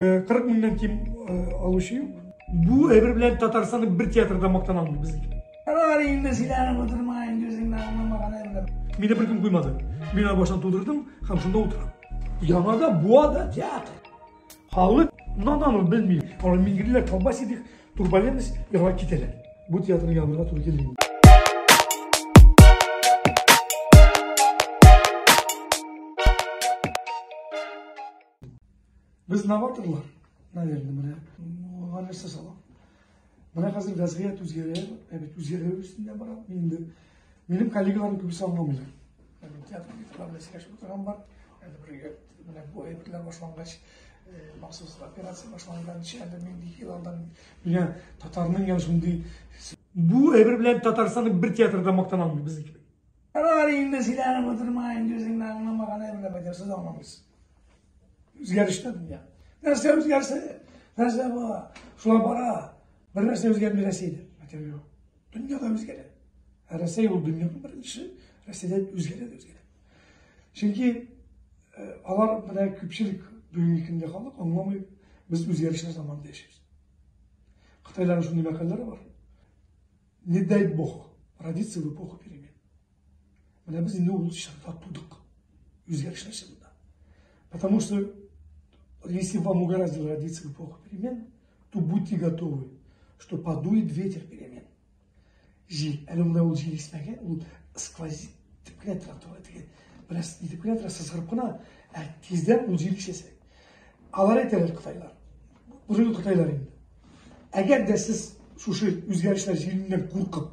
40 меңнән ким алучы юк. Бу әйбер белән Татарстанның бер театрда мактана алмый безнең. Алар инде сөйләнеп утырма, инде үзеңне аңламаган әйбер. Мине беркем куймады. Мин аны баштан тудырдым һәм шунда утырам. Яңада буа да театр. Халык надан ул белми. Алар миңгирләр колбас идек, турбаленность, яңа китәләр. Бу театрны ябырга туры килми. Без новаторлар, наверное, менә алга нәрсә сала. Менә хәзер вәзгыять үзгәрә, ә бит үзгәрә өстендә бара. Инде минем коллегаларым күбесе аңламыйлар. Театр фестиваль белән сөйләшеп утырган бар. Әле бергә менә бу әйберләр башлангач, махсус операция башланганчы, әле нинди ел алдан миңа татарның ям шундый бу әйбер белән Татарстанның бер театрда мактана алмый безнең кебек. Алар инде сөйләнеп утырма, инде үзеңне аңламаган әйберләп әйтәсез аңламыйсыз. Үзгәрештә дөнья. Нәрсә үзгәрсә, нәрсә бара, шулай бара. Бер нәрсә үзгәрми Рәсәйдә. Материал. Дөнья да үзгәрә. Ә Рәсәй ул дөньяның беренче, Рәсәйдә үзгәрә дә үзгәрә. Чөнки э, алар менә күпчелек бүгенге көндә халык аңламый, без үзгәрешләр заманында яшибез. Кытайларның шундый мәкалләре бар. Не дай бог, родиться в эпоху перемен. Менә без инде ул чакта тудык. Үзгәрешләр чагында. Потому что если вам угораздило родиться в эпоху перемен, то будьте готовы, что подует ветер перемен. Жил. Әле менә ул жил исмәгән, ул сквозит дип кенә тора тора дигән. Бераз итеп кенә тора сызгырып кына, ә тиздән ул жил ишәсәк. Алар әйтәләр Кытайлар. Бозыгы Кытайлар инде. Әгәр дә сез шушы үзгәрешләр җиленнән куркып,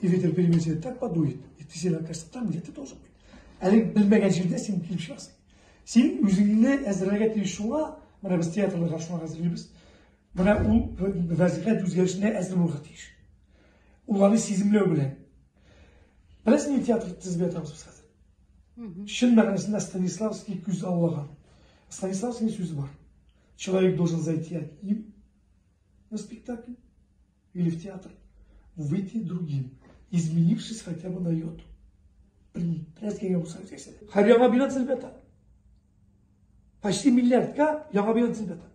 И ветер перемещает, так подует. И ты себе окажешься там, где ты должен быть. Әле белмәгән җирдә син килеп чыгасың. Син үзеңне әзерләргә тиеш шуңа, менә без театрларга шуңа әзерлибез. Менә ул вазифә үзгәрешенә әзер булырга тиеш. Уларны сиземләү белән. Беләсең ни театр тезбе атабыз без хәзер. Чын мәгънәсендә Станиславский күз аллаган. Станиславский сүзе бар. Человек должен зайти одним на спектакль, или в театр, выйти другим, изменившись хотя бы на йоту. Блин, тряс кенгә булса үткәсә. Хәр яңа бина төзелеп Почти миллиардка яңа бина төзелеп ята.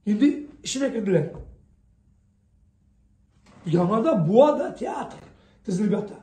Инде эченә керделәр. Яңада буа да театр төзелеп ята.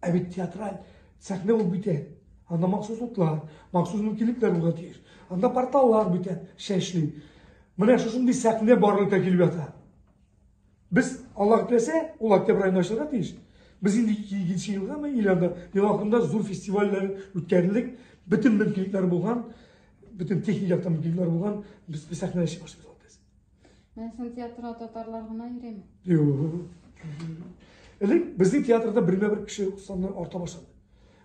Ә бит театраль сәхнә ул бит Анда махсус утлар, махсус мөмкинлекләр булырга тиеш. Анда порталлар бит шәшли. Менә шушындый сәхнә барлыкка килеп ята. Без Аллаһ теләсә, ул октябрь аенда ачылырга тиеш. Без инде 2 елга мы или анда ел ахырында зур фестивальләр үткәрелик, бөтен мөмкинлекләр булган, бөтен техник яктан мөмкинлекләр булган, без сәхнәдә чыгыш ясап Менә син театрга татарлар гына йөрәме? Юк. Элек безнең театрда бермә бер кеше саны арта башлады.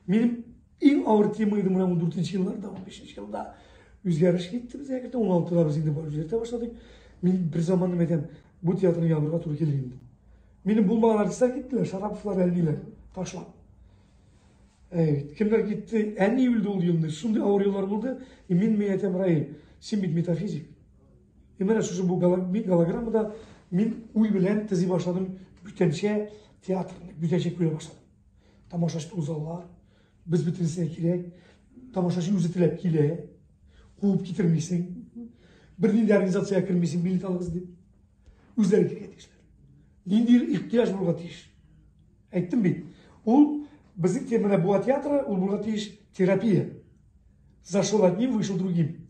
Минем иң авыр тема иде менә 14 елларда, 15 елда үзгәреш китте безгә кертә. 16-да без инде бар үзгәртә башладык. Мин бер заман әйтәм, бу театрны ябырга туры килде инде. Минем булмаган артистлар киттеләр, Шараповлар, Әлмиләр ташлап. Әйт, кемнәр китте? Әни үлде ул елны. Шундый авыр еллар булды. И мин мин әйтәм, Раил, син бит метафизик. И менә шушы бу голограммада мин уй белән тези башладым бүтәнчә театрны, бүтәнчә күрә башладым. Тамашачы тузалар, без бөтенесенә кирәк, тамашачы үзе теләп килә, куып китермисең, бер нинди организация кермисең, билет алыгыз дип. Үзләре киргә тиешләр. Нинди ихтияж булырга тиеш. Әйттем бит, ул безнең темада була театры, ул булырга тиеш терапия. Зашел одним, вышел другим.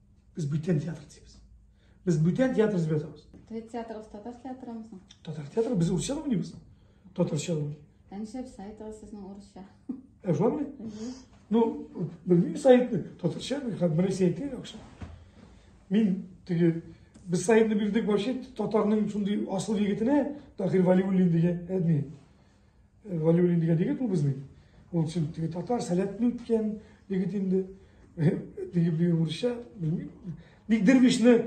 Без бүтән театр дибез. Без бүтән театр дип язабыз. Твет театрыбыз татар театрымызмы? Татар театры без урысча да уйныйбыз. Татарча да. Ә нишләп сайтыгыз сезнең урысча? Ә шулармы? Ну, белмим сайтны. Татарча бер хат бер сайтны яхшы. Мин теге без сайтны бирдек вообще татарның шундый асыл егетенә Тахир Валиуллин дигән әдми. Валюлин дигән егет ул безнең. Ул чын теге татар, сәләтле үткән егет инде. Теге бер урысча, белмим. Бик дервишне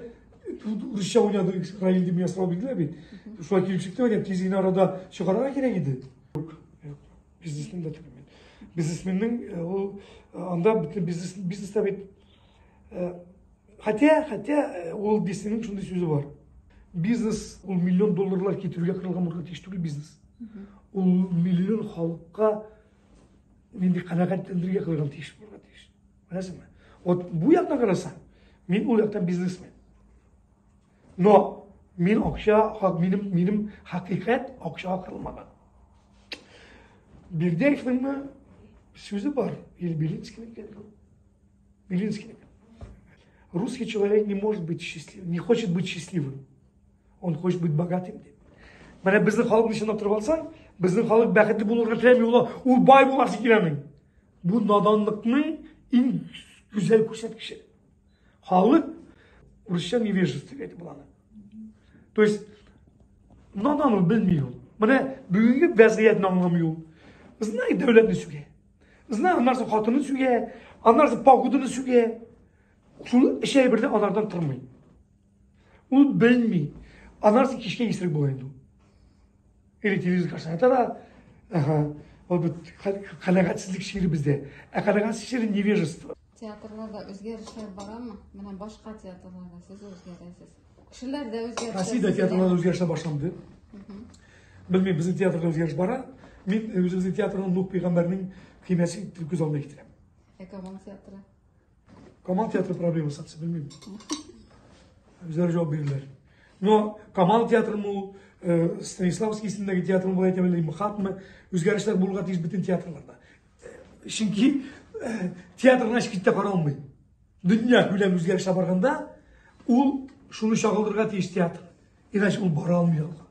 урысча уйнады, Раил дип ясалып бирделәр бит. Шулай килеп чыкты, әйтәм, тиз генә арада чыгарга кирәк иде. Юк, юк. Бизнесмен дә түгел. Бизнесменның ул анда бөтен бизнес бизнеста бит Хотя, хотя, э, Уолт Диснейның шундый сүзе бар. Бизнес, ул миллион долларлар китерүгә кырылган булырга тиеш түгел бизнес. Ул миллион халыкка нинди канәгатьләндерергә кырылган тиеш булырга тиеш. Беләсеңме? Вот бу яктан карасаң, мин ул яктан бизнесмен. Но мин акча, минем, минем хакыйкать акча кырылмаган. Бирдеевныңмы сүзе бар, Ильбилинскийнең Белинский. Русский человек не может быть счастлив, не хочет быть счастливым. Он хочет быть богатым. Деп. Менә безнең халыкны чынлап торып алсаң, безнең халык бәхетле булырга теләми, ул ул бай буласы киләми. Бу наданлыкның иң гүзәл күрсәткече. Халык урысча невежество дип буланы. То есть надан ул белми ул. Менә бүгенге вәзгыятьне аңламый ул. Знай дәүләтне сүгә. Знай аннарсы хатыны сүгә, аннарсы пагудыны сүгә. Шул эш әйберне анардан тормый. Ул белми. Аннарсы кичкә исерек була инде. Или телевизор каршысына тара. Ага. Ул бит канәгатьсезлек чире бездә. Ә канәгатьсезлек чире невежество. Театрларда үзгәрешләр барамы? Менә башка театрларда сез үзгәрәсез. Кешеләр дә үзгәрә. Россиядә театрларда үзгәрешләр башланды. Белмим, безнең театрда үзгәреш бара. Мин үзебезнең театрның Нух пәйгамбәрнең көймәсе итеп күз алдына китерәм. Ә Камал театры? Камал театры проблема сатсы, белмим. Үзләре җавап бирерләр. Но Камал театрымы ул, Станиславский исемендәге театрмы, болай әйтәм, или МХАТмы, үзгәрешләр булырга тиеш бөтен театрларда. чөнки театрны һеч китә каралмый дөнья күләм үзгәрешләр барганда ул шуны чагылдырырга тиеш театр иначе ул бара алмый алга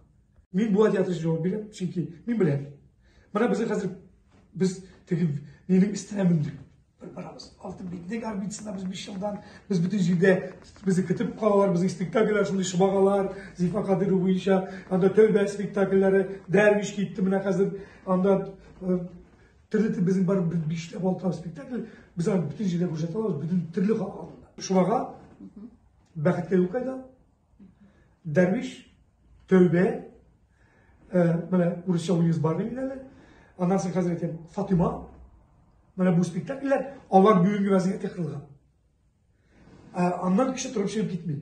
мин бу театр өчен җавап бирәм чөнки мин беләм менә безнең хәзер без теге минем өстенә мендек бер барабыз алтын битнек орбитасында без биш елдан без бөтен җирдә безне көтеп калалар безнең спектакльләр шундый шыбагалар зифа кадыйрова буенча анда тәүбә спектакльләре дәрвиш китте менә хәзер Анда төрле безнең бар бишләп алты спектакль без аны бөтен җирдә күрсәтә алабыз, бөтен төрле халык алдында. Шуларга бәхеткә юл кайда? Дәрвиш, тәүбә, менә урысча уйныйбыз бар бит әле. Аннан соң хәзер әйтәм, Фатима. Менә бу спектакльләр алар бүгенге вазгыятькә кырылган. Аннан кеше торып чыгып китми.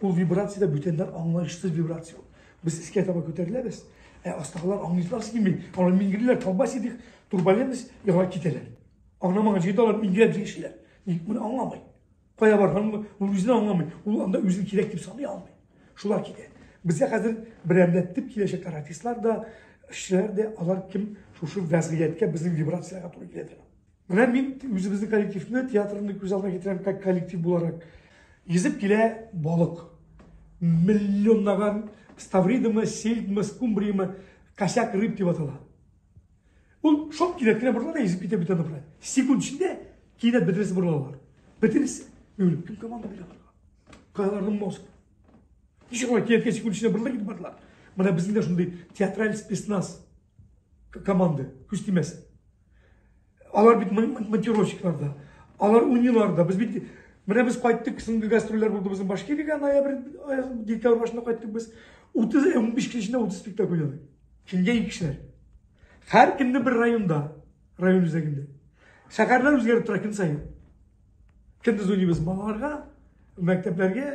Ул вибрация дә бүтәннәр аңлаешсыз вибрация ул. Без искә таба күтәреләбез, ә астагылар аңлыйсыз килми. Алар миңгелиләр, колбас идек, турбалемс, яңа китәләр. Аңламаган җирдә алар миңгеләп җиңешеләр. Ник моны аңламый? Кая барган ул үзен аңламый. Ул анда үзен кирәк дип саный алмый. Шулар китә. Безгә хәзер берәмләтеп киләчәк каратистлар да, эшчеләр дә, алар кем шушы вәзгыятькә безнең вибрациягә туры килә торган. Менә мин үзебезнең коллективны, театрны күз алдына китерәм, как коллектив буларак. Йөзеп килә балык. Миллионлаган ставридымы, сельдмы, скумбриямы, косяк рыб дип атала. Ул шок кинәт кенә борыла да йөзеп китә бөтен бара. Секунд эчендә кинәт бөтенесе борылалар. Бөтенесе. Юлып, кем команда бирә аларга? Кайларның мозг. Ничек алар кинәткә секунд эчендә борыла китеп бардылар? Менә безнең дә шундый театраль спецназ. команды, күз тимәс. Алар бит монтировщикларда, алар униларда. Без бит менә без кайттык, соңгы гастрольләр булды безнең Башкириягә ноябрь, декабрь башында кайттык без. 30 15 көн эчендә 30 спектакль уйнадык. Кемгә ике кешеләр? Һәр көнне бер районда, район үзәгендә. Шәһәрләр үзгәреп тора көн саен. Көндез уйныйбыз балаларга, мәктәпләргә,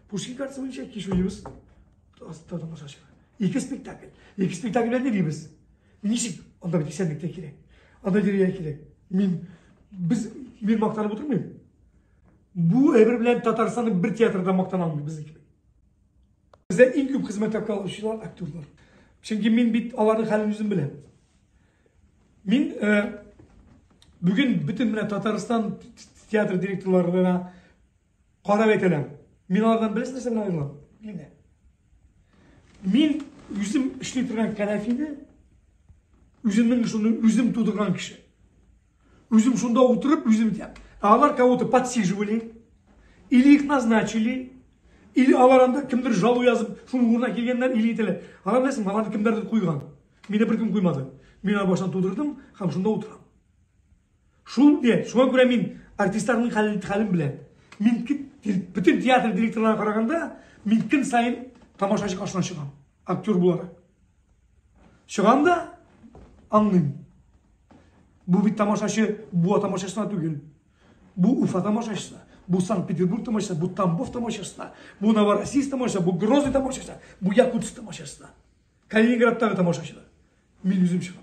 Пушкин картасы буенча кич уйныйбыз. Тотым шашы. Ике спектакль. Ике спектакль белән йөрибез. Ничек? Анда бит исәнлек тә кирәк. Анда дирегә кирәк. Мин без мин мактанып утырмыйм. Бу әйбер белән Татарстанның бер театрында мактана алмый безнеке. Бездә иң күп хезмәт хакы алучылар актерлар. Чөнки мин бит аларның хәлен үзем беләм. Мин бүген бөтен менә Татарстан театр директорларына Кара бит әлем. Мин алардан беләсең нәрсә белән аерылам? Мин Мин үзем эшли торган кәнәфине үземнең шуны үзем тудырган кеше. Үзем шунда утырып, үзем итәм. А алар кого-то подсиживали, или их назначили, или алар анда кемдер жалу язып, шуның урынына килгәннәр, или ителә. Алар беләсең, аларны кемдердер куйган. Мине беркем куймады. Мин алар баштан тудырдым, һәм шунда утырам. Шул инде, шуңа күрә мин артистларның хәлен, хәлен беләм. Мин бөтен театр директорларына караганда, мин көн сайын тамашачы каршына чыгам, актер буларак. Чыгам да аңлыйм. Бу бит тамашачы, бу тамашачысына түгел. Бу Уфа тамашачысы, бу Санкт-Петербург тамашачысы, бу Тамбов тамашачысына, бу Новороссийск тамашачысы, бу Грозный тамашачысы, бу Якутск тамашачысына. Калининградтагы тамашачылар. Мин үзем чыгам.